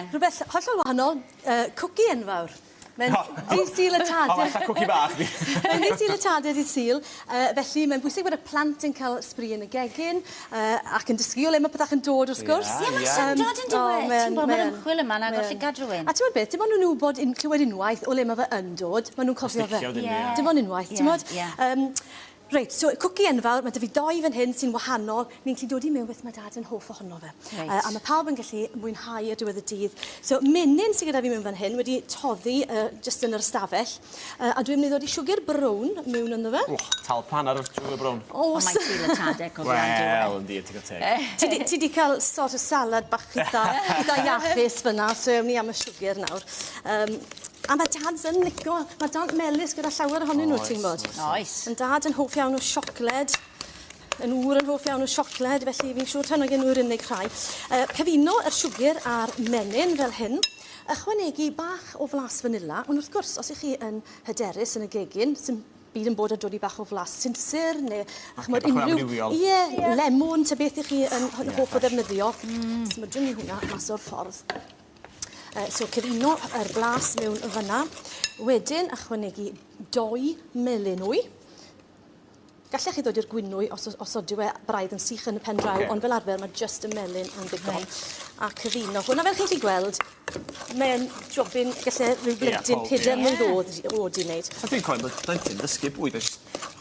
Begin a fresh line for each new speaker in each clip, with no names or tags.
Rhywbeth hollol wahanol, yy cwci enfawr. Mae'n ddydd Sul y Tadau. O falla cwci bach ydi. Mae'n ddydd Sul y Tadau, dydd Sul, yy felly mae'n bwysig bod y plant yn ca'l sbri yn y gegin yy ac yn dysgu o le ma' petach yn dod wrth gwrs. Ie ie. Ie ma'n syndod yndyw e? O mae yn mae yn. Ti'n gwbo ma'r ymchwil yma'n agor llygad rywun. A t'mod beth dim ond yn wbod un- clywed unwaith o le ma' fe yn dod ma' nw'n cofio fe. Ie. Dim ond unwaith t'mod? Ie ie. Yym. Reit, so cwci enfawr, mae 'da fi dou fan hyn sy'n wahanol. Ni'n gallu dod i mewn beth mae Dad yn hoff ohono fe. Reit. Uh, a mae pawb yn gallu mwynhau ar diwedd y dydd. So, menyn sy'n gyda fi mewn fan hyn wedi toddi uh, just yn yr ystafell. Uh, a dwi'n mynd i ddod i siwgr brown mewn ynddo fe. Wch, tal pan ar y siwgr brown. Os. Ond mae'n cael y tadeg o dda, dwi'n dweud. Wel, yndi, ti'n cael teg. Ti di cael sort of salad bach eitha, eitha iachus fyna, so ewn ni am y siwgr nawr. Um, A ma' Dads yn lico ma'r dant melys gyda llawer ohonyn n'w ti'n wbod. Oes. Oes. Yn dad yn hoff iawn o siocled yn ŵr yn hoff iawn o siocled felly fi'n siŵr taw 'na gen nw'r unig rhai. Yy cyfuno yr siwgyr a'r menyn fel hyn. Ychwanegu bach o flas fanila ond wrth gwrs os 'ych chi yn hyderus yn y gegin sim byd yn bod â dwli bach o flas sinsir ne' a ch'mod unryw... Ie ie. ...lemwn ta beth 'ych chi yn ho- hoff o ddefnyddio. Hmm. Smwdwn ni hwnna mas o'r ffordd. Uh, so cyfuno yr glas mewn fyna. Wedyn ychwanegu doi melyn wy. Gallech chi ddod i'r gwynwy os, os odyw e braidd yn sych yn y pen draw, okay. ond fel arfer mae just y melyn yn ddigon. Right. A cyfuno hwnna fel chi'n chi gweld, mae'n jobyn gallu rhyw blentyn yeah, peder yeah. mlynedd oed oed i wneud. A dwi'n cofio bod blentyn ddysgu bwyd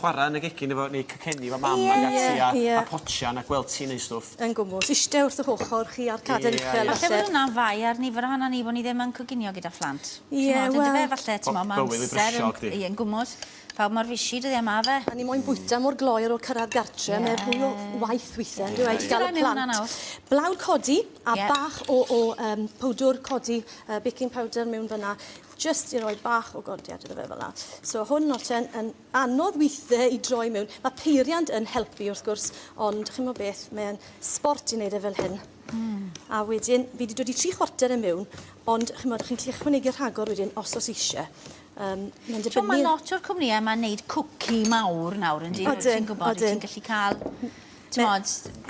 chwarae yn y gegin efo neu cycenni efo mam yeah, ac ati a, yeah. a potsian a gweld ti'n neud stwff. Yn gwmws. Ishte wrth ych ochr chi a'r caden uchel falle. Falle bod hwnna'n fai ar nifer ohonon ni bo' ni ddim yn coginio gyda phlant. Ie wel. T'mod yndyfe falle t'mod ma' amser yn ie yn gwmws. Pawb mor fishi dyddie ma' yfe? A ni moyn bwyta mor gloyr o'r cyrradd gartre. Ie. Mae fwy o waith withe on'd yw e? Ti gallu rhannu hwnna nawr? Blawd codi a bach o o yym powdwr codi yy baking powder mewn fynna jyst i roi bach o godiad iddo fe fel 'a. So hwn nawr ten yn Anodd withe i droi mewn. Mae peiriant yn helpu wrth gwrs, ond chimo beth, mae'n sbort i wneud e fel hyn. Mm. A wedyn, fi wedi dod i tri chwarter e mewn, ond chimod, chi'n gallu ychwanegu rhagor wedyn os os eisiau. Um, mae'n dibynnu... So, mae lot o'r cwmnïau yma'n neud cwci mawr nawr, yn dyn, ti'n gwybod, ti'n gallu cael Timod,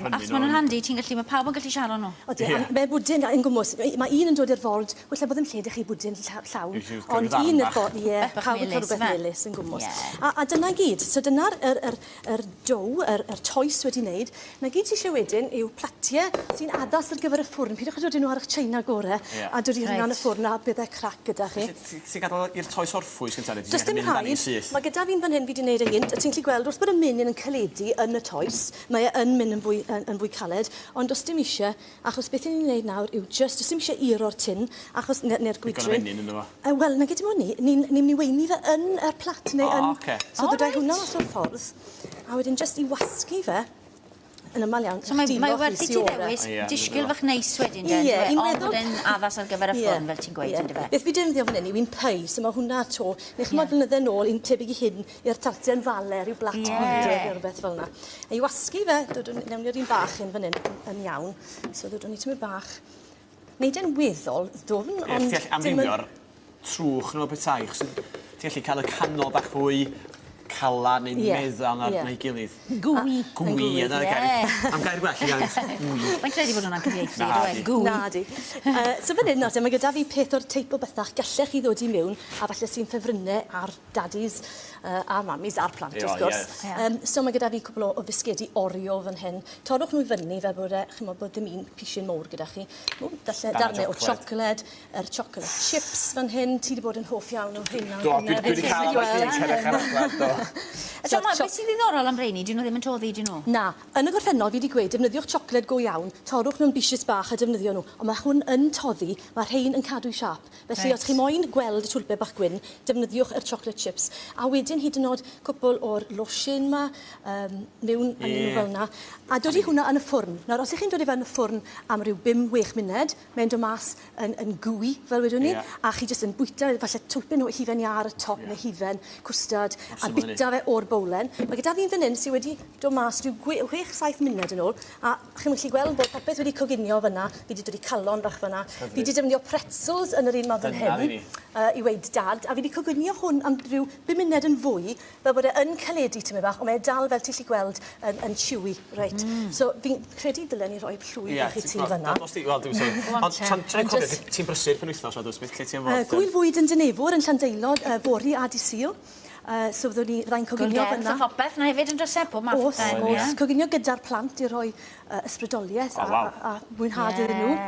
achos maen nhw'n handi, ti'n gallu, mae pawb yn gallu siarad nhw. Odi, yeah. mae bwdyn yn gwmwys. Mae un yn dod i'r ford, gwella bod yn lle dych chi bwdyn llawn. Ond un i'r ford, ie, pawb yn cael rhywbeth melus yn gwmwys. A, a dyna gyd. So dyna'r er, er, er dow, yr, er, er toes wedi wneud. Na gyd ti eisiau wedyn yw platiau sy'n addas ar gyfer y ffwrn. Pidwch â dod i nhw ar eich China gore yeah. a dod i hynna yn y ffwrn a byddai crac gyda chi. Ti ti gadal i'r toes orffwys gynta neu ti jyst yn mynd amdani syth? Does dim rhaid. Ma gyda fi'n fan hyn fi di neud e gynt a ti'n gallu gweld wrth bod y menyn yn caledu yn y toes mae e yn mynd yn fwy yn yn fwy caled ond does dim isie achos beth i ni'n neud nawr yw jyst does dim isie iro'r tin achos ne- ne'r gwydryn. Digon o fenyn ynddo fo. Yy wel nage dim oni ni'n ni'n myn i weini fe yn y plat neu yn... O oce. ...so dod â hwnna mas o'r ffordd a wedyn jyst i wasgu fe Yn amal iawn. So mae mae werth i ti ddewis disgyl fach neis wedyn de? Ie fi'n meddwl. Ond bod e'n addas ar gyfer y ffôn fel ti'n gweud yndyfe? Beth fi defnyddio fan 'yn yw un pies a ma' hwnna 'to ne' ch'mod flynydde nôl un tebyg i hyn i'r tarten yn Fale ryw blat bwydydd ne' rwbeth fel 'na. A i wasgu fe dod â newn ni'r un bach un fan 'yn yn iawn. So ddodwn ni tymed bach. Neud e'n weddol ddwfn ond dim yn... Ie ti all amrywio'r trwch neu petai achos ti'n gallu cael y canol bach fwy calan neu meddal na na'i gilydd. Gooey. Gooey ie 'na'r gair. Am gair gwell i gant. Gooey. Mae'n lle 'di bod yn anghyfieithu on'd yw e? Gooey. Nadi. Yy so fan 'yn nawrte ma' gyda fi peth o'r teip o betha gellech chi ddod i miwn a falle sy'n ffefrynne ar dadis yy a mamis a'r plant wrth gwrs. O ie. Yym so ma' gyda fi cwpwl o o fisgedi Oreo fan hyn. Torrwch n'w i fyny fel bod e ch'mod bod dim un pishyn mowr gyda chi. O falle darne o tsiocled. yr chocolate chips fan hyn ti 'di bod yn hoff iawn o rheina on'd do? Do dwi dwi 'di ca'l like un cerrig ar aglaw do. A t'mo' ma' be' sy'n ddiddorol am reini 'dyn n'w ddim yn toddi 'dyn n'w? Na. Yn y gorffennol fi 'di gweud defnyddiwch chocolate go iawn torrwch nw'n bishys bach a defnyddio n'w on' ma' hwn yn toddi ma' rhein yn cadw'i siâp felly... Reit. ...os chi moyn gweld y twlpe bach gwyn defnyddiwch yr chocolate chips a wedyn hyd yn o'd cwpwl o'r losin 'ma yym miwn a neud n'w fel 'na a dodi hwnna yn y ffwrn nawr os 'ych chi'n dod i fe yn y ffwrn am ryw bum wech muned Mae'n dod mas yn, yn gwy, fel wedwn ni, yeah. a chi jyst yn bwyta e, falle twmpyn o hufen iâ ar y top yeah. neu hufen cwstard, a bita fe o'r bowlen. Mae gyda fi'n fan hyn sydd wedi dod mas rhyw 6-7 munud yn ôl, a chi'n gallu gweld bod popeth wedi coginio fyna, fi wedi dod i calon bach fyna, fi wedi defnyddio pretzels yn yr un modd yn hyn, uh, i weid dad, a fi wedi coginio hwn am rhyw 5 munud yn fwy, fel bod e yn caledu tymed bach, ond mae e dal fel ti 'llu gweld yn yn chewy reit. Hmm. So fi'n credu dylen ni roi plwyf i chi tu fan 'na. Ie os ti wel dim so ond t'am ti'n cofio ti ti'n brysur penwythnos on'd wyt beth lle ti am fod? Yy gŵyl fwyd yn Dinefwr yn Llandeilog yy fory a dy Sul yy so fyddwn ni fyddai'n coginio fynna. Gwn gerdd a phopeth 'na hefyd on'd o's e pob math o bethe? O's o's coginio gyda'r plant i rhoi yy ysbrydolieth a a a mwynhad iddyn nhw.